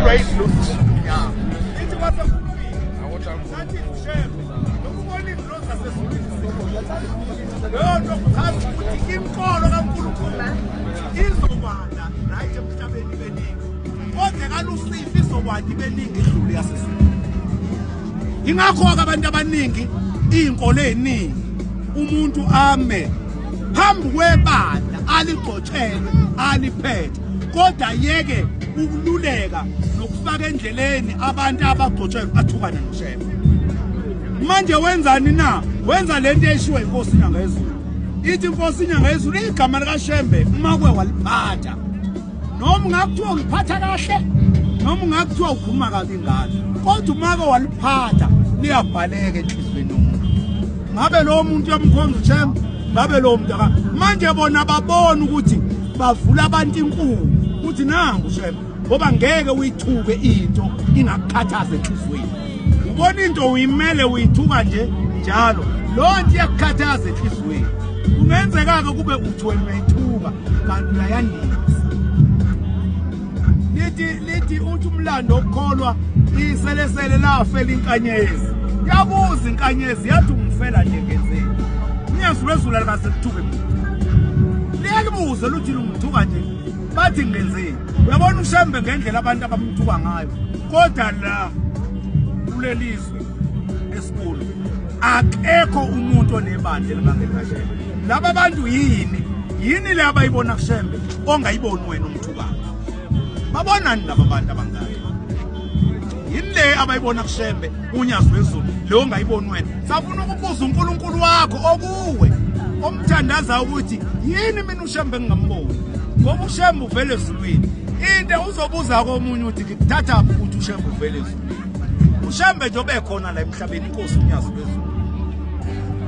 Praise Lord. Yeah. Ithi kwase kulungile. Awotha. Sathi share. Lokubona izinto zasezulwini. Leyo nto kuchaza ukuthi inkolo kaNkulunkulu izobanda right emhlabeni beningi. Kodwa kalusifi izokwanda ibeningi idlule yasezulwini. Ingakho ke abantu abaningi izinkolo eziningi umuntu ame phambi kwebandla aligcotshelwe aliphethe kodwa yeke ukululeka nokufaka endleleni abantu abagcotshwe bathukane noshefa manje wenzani na wenza le nto eshiwe inkosi inyanga yezulu ithi inkosi inyanga yezulu igama likashembe umakwe waliphatha noma ungakuthiwa uliphatha kahle noma ungakuthiwa ukhuluma kabi ngalo kodwa umake waliphatha liyabhaleka enhliziyweni yomuntu ngabe lowo muntu yamkhonza ushembe ngabe lowo muntu manje bona babona ukuthi bavula abantu inkulu uthi nangu shema ngoba ngeke uyithuke into ingakukhathaza enhliziyweni ubona into uyimele uyithuka nje njalo loo nto iyakukhathaza enhliziyweni kungenzeka-ke kube uthi wena uyayithuka kanti uyayandisa lithi lithi uthi umlando okukholwa iselesele lafela inkanyezi yabuza inkanyezi yathi ungifela nje ngenzeni niyazulu ezulu alikaze lithuke liyalibuze luthi lungithuka nje bathi ngenzeni uyabona ushembe ngendlela abantu abamthuka ngayo kodwa la kulelizwe esikhulu akekho umuntu onebandla elibangekashela laba bantu yini yini le abayibona kushembe ongayiboni wena umthu babonani laba bantu abangaka yini le abayibona kushembe unyazi wezulu le ongayiboni wena safuna ukubuza unkulunkulu wakho okuwe omthandaza ukuthi yini mina ushembe engingamboni ngoba ushembe uvele ezulwini into uzobuza komunye uthi ngikuthathaphi ukuthi ushembe uvele ezulwini ushembe nje obekhona la emhlabeni inkosi unyazi lwezulu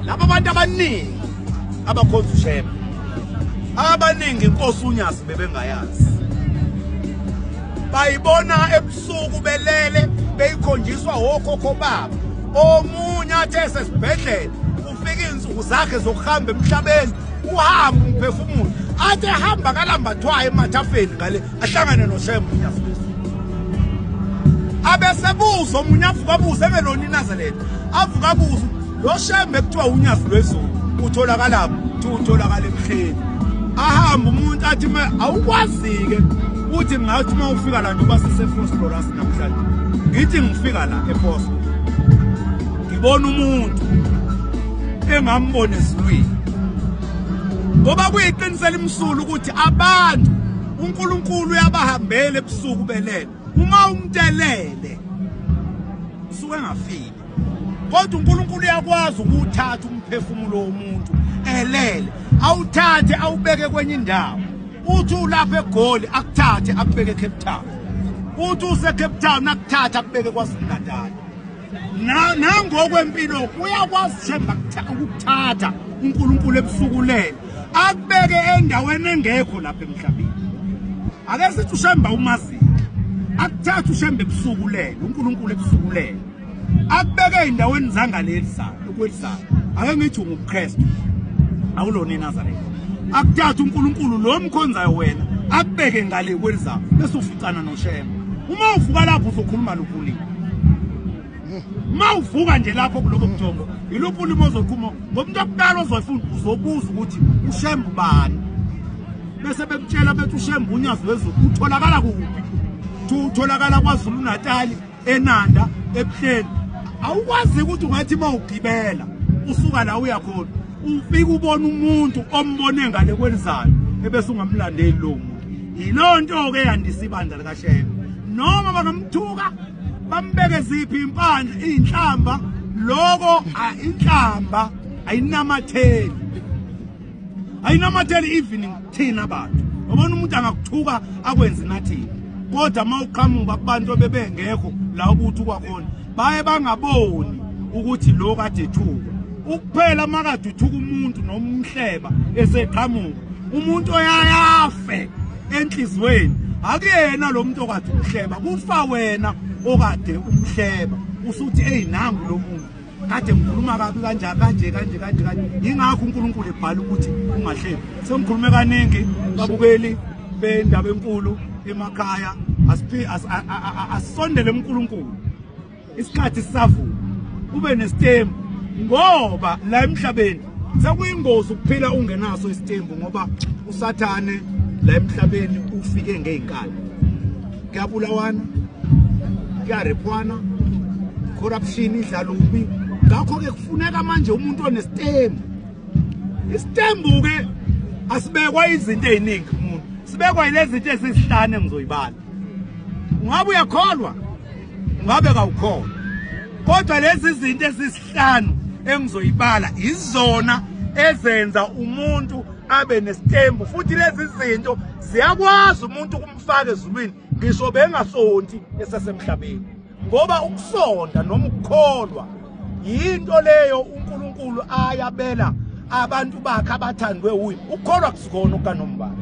laba bantu abaningi abakhonza ushema abaningi inkosi unyazi bebengayazi bayibona ebusuku belele beyikhonjiswa wokhokho babo omunye athi esesibhedlela kufika izinsuku zakhe zokuhamba emhlabeni uhamba umphefumulo athi ehamba kalambathwayo emathafeni ngale ahlangane noShembu abesebuza omunye avuka abuze engelona inazeleni avuka abuze lo shembe kuthiwa unyazi lwezulu utholakalaphi kuthiwa utholakala emhleni ahamba umuntu athi me awukwazi-ke uthi ngathi uma ufika la njengoba sisefosloras namhlanje ngithi ngifika la efoslo ngibona umuntu engambona ezulwini ngoba kuyiqiniso elimsulu ukuthi abantu uNkulunkulu uyabahambela ebusuku belele uma umtelele usuke engafile kodwa uNkulunkulu uyakwazi ukuthatha umphefumulo womuntu elele awuthathe awubeke kwenye indawo uthi ulapha egoli akuthathe akubeke eCape Town uthi useCape Town akuthathe akubeke kwaZulu-Natal nangokwempilo uyakwazi themba ukukuthatha uNkulunkulu ebusukulele akubeke endaweni engekho lapha emhlabeni ake sithi ushemba umazi akuthatha ushemba ebusukulele uNkulunkulu ebusukulele akubeke endaweni zangaleli salo ukwelizayo ake ngithi unguKristu awulona eNazaretha akuthatha uNkulunkulu lo mkhonzayo wena akubeke ngale kwelizayo bese uficana noshemba uma uvuka lapho uzokhuluma lukhulile mawuvuka nje lapho kuloko mjongo yiluphi ulimo ozoqhuma ngomuntu okuqala ozoyifuna uzobuza ukuthi ushembe ubani bese bekutshela bethi ushembe unyazi wezulu utholakala kuphi thi utholakala kwazulu natali enanda ebuhleni awukwazi ukuthi ungathi uma ugibela usuka la uya khona ufike ubona umuntu ombone ngale kwelizayo ebese ungamlandeli lowo muntu Yiloo nto-ke yandisa ibandla likaShembe. Noma bangamthuka bambeke ziphi impandla iy'nhlamba loko inhlamba ayinamatheli ayinamatheli even thina bantu ubona umuntu angakuthuka akwenze nathini kodwa uma uqhamuka kubantu abebengekho la ukuthi kwakhona baye bangaboni ukuthi lo kade ethuka ukuphela makade uthuka umuntu nomhleba eseqhamuka umuntu oyayafe enhlizweni akuyena lo muntu okade umhleba kufa wena okade umhleba usuthi eyi nangu lo muntu kade ngikhuluma kabi kanje kanje kanje kanje kanje yingakho unkulunkulu ebhala ukuthi ungahleli sengikhulume kaningi babukeli bendaba enkulu emakhaya asisondele kunkulunkulu isikhathi sisavuma kube nesitembu ngoba la emhlabeni sekuyingozi ukuphila ungenaso isitembu ngoba usathane la emhlabeni ufike ngey'nkani kuyabulawana kuyarephwana corruption idlala ubi ngakho-ke kufuneka manje umuntu onesitembu isitembu-ke asibekwa izinto ey'ningi kumuntu sibekwa yile zinto ezizihlane ngizoyibala ungabe uyakholwa ngabe kawukhona kodwa lezi zinto ezisihlanu engizoyibala izona ezenza umuntu abe nesitembu futhi lezi zinto ziyakwazi umuntu ukumfaka ezulwini ngisho bengasonti esesemhlabeni ngoba ukusonda noma ukukholwa yinto leyo uNkulunkulu ayabela abantu bakhe abathandwe uye ukholwa kusikona okanombala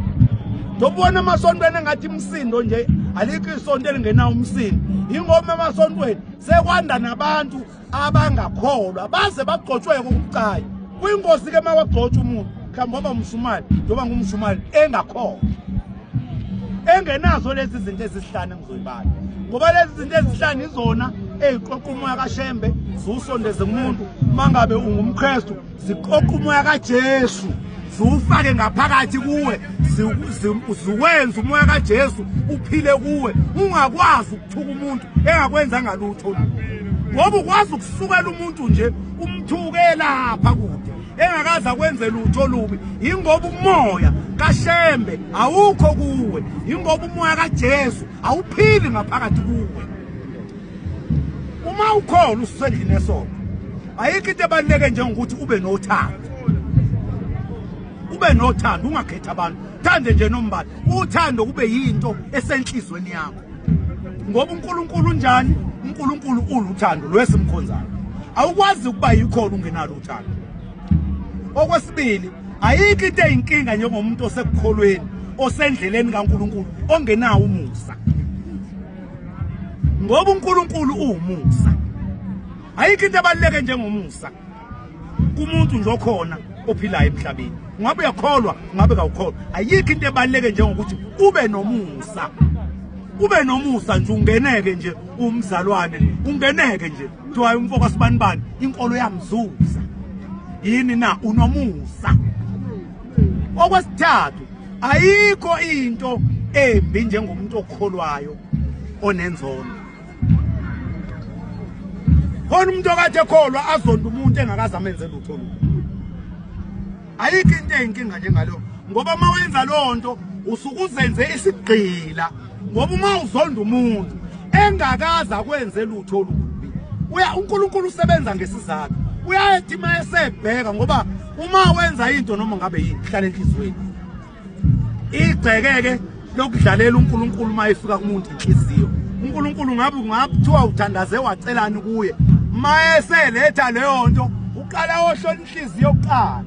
ndobona emasontweni engathi imsindo nje alikho isonto elingenawo umsindo yingoma emasontweni sekwanda nabantu abangakholwa baze bagcotshweke ukucayi kwingozi ke mawagcotshwa umuntu mhlawumbe oba umshumali njengoba ngumshumali engakholwa engenazo lezi zinto ezisihlanu engizoyibala ngoba lezi zinto ezihlanu izona eziqoqa umoya kaShembe ziwusondeze kumuntu mangabe ungumKristu ziqoqa umoya kaJesu ziwufake ngaphakathi kuwe ziwenza umoya kaJesu uphile kuwe ungakwazi ukuthuka umuntu engakwenza ngalutho ngoba ukwazi ukusukela umuntu nje umthuke lapha kude engakaze akwenze lutho olubi yingoba umoya kashembe awukho kuwe yingoba umoya kajesu awuphili ngaphakathi kuwe uma ukhona usendlini esoko ayikho into ebaluleke njengokuthi ube nothando ube nothando ungakhethi abantu thande nje nombala uthando kube yinto esenhlizweni yakho ngoba uNkulunkulu unjani uNkulunkulu uluthando lwesimkhonzayo awukwazi ukuba yikhona ungenalo uthando okwesibili ayikho into eyinkinga njengomuntu osekukholweni osendleleni kaNkulunkulu ongenawo umusa ngoba uNkulunkulu uwumusa ayikho into ebaluleke njengomusa kumuntu nje okhona ophilayo emhlabeni ngabe uyakholwa ngabe kawukholwa ayikho into ebaluleke njengokuthi ube nomusa ube nomusa nje ungeneke nje umzalwane ungeneke nje kuthiwa umfoko sibanibani inkolo yamzuza yini na unomusa okwesithathu ayikho into embi njengomuntu okholwayo onenzondo khona umuntu okade ekholwa azonda umuntu engakaze amenze lutho lutho ayikho into eyinkinga njengalo ngoba uma wenza loo nto usuke uzenze isigqila ngoba uma uzonda umuntu engakaze akwenze lutho olubi uya unkulunkulu usebenza ngesizathu uyayethi uma esebheka ngoba uma wenza into noma ngabe yini hlala enhliziyweni igcekeke lokudlalela uNkulunkulu uma efika kumuntu inhliziyo uNkulunkulu ngabe ungakuthiwa uthandaze wacelani kuye mayeseletha leyo nto uqala ohlola inhliziyo kuqala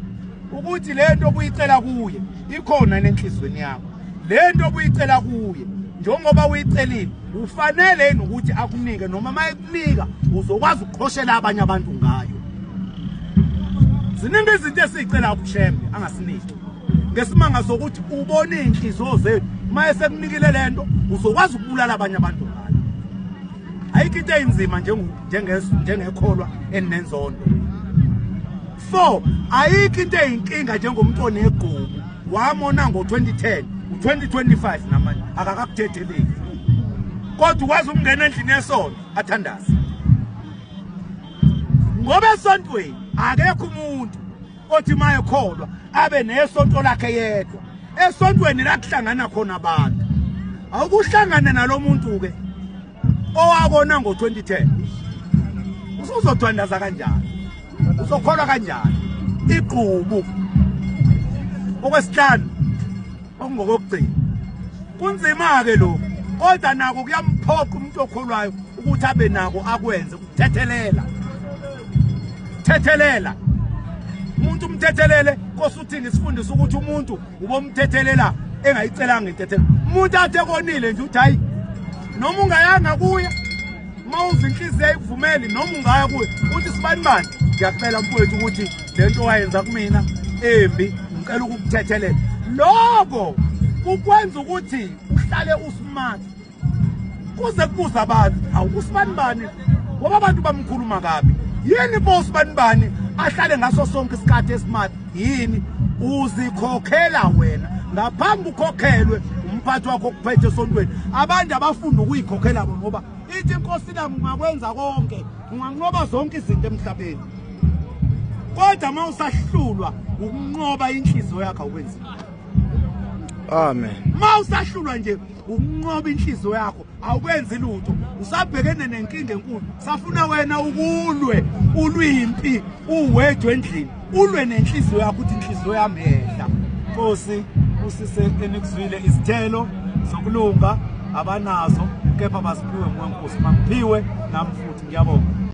ukuthi le nto obuyicela kuye ikhona nenhliziyweni yakho le nto obuyicela kuye njengoba uyicelile ufanele yini ukuthi akunike noma uma ekunika uzokwazi ukuqhoshela abanye abantu ngayo ziningi izinto esiyicela kushembe angasiniki ngesimanga sokuthi ubona iy'nhliziyo zenu uma esekunikile le nto uzokwazi ukubulala abanye abantu ngayo ayikho into eyinzima njengekholwa eninenzondo four ayikho into eyinkinga njengomntu onegqubu wamona ngo-2010 u-2025 namanje akakakuthetheleki kodwa ukwazi ukungena endlini yesonto athandaze ngoba esontweni akekho umuntu othi mayekholwa abe nesonto lakhe yedwa esontweni la kuhlangana khona abantu awukuhlangane nalo muntu ke owabona ngo-2010 usuzothandaza kanjani uzokholwa kanjani igqubu okwesihlanu okungokokugcina kunzima-ke lokhu kodwa nako kuyamphoqa umuntu okholwayo ukuthi abe nako akwenze thethelela thethelela umuntu umthethelele nkosi uthini sifundisa ukuthi umuntu ubomthethelela engayicelanga intethelo umuntu athe konile nje uthi hayi noma ungayanga kuye uma uza inhliziyo ayikuvumeli noma ungaya kuye uthi sibanibani ngiyacela mfowethu ukuthi le nto wayenza kumina embi ngicela ukukuthethelela loko kukwenza ukuthi uhlale usmart kuze kubuza abantu hawu usibanibani ngoba abantu bamkhuluma kabi yini bo usibanibani ahlale ngaso sonke isikhathi esimart yini uzikhokhela wena ngaphambi ukhokhelwe umphathi wakho okuphethe esontweni abantu abafunda ukuyikhokhela bona ngoba ithi inkosi nami ungakwenza konke unganqoba zonke izinto emhlabeni kodwa uma usahlulwa ukunqoba inhliziyo yakho awukwenziwa amen uma usahlulwa nje ukunqoba inhliziyo yakho awukwenzi lutho usabhekene nenkinga enkulu safuna wena ukulwe ulwimpi uwedwe endlini ulwe nenhliziyo yakho ukuthi inhliziyo yami yehla nkosi usise enikuzwile izithelo zokulunga abanazo kepha baziphiwe nguwe nkosi mangiphiwe nami futhi ngiyabonga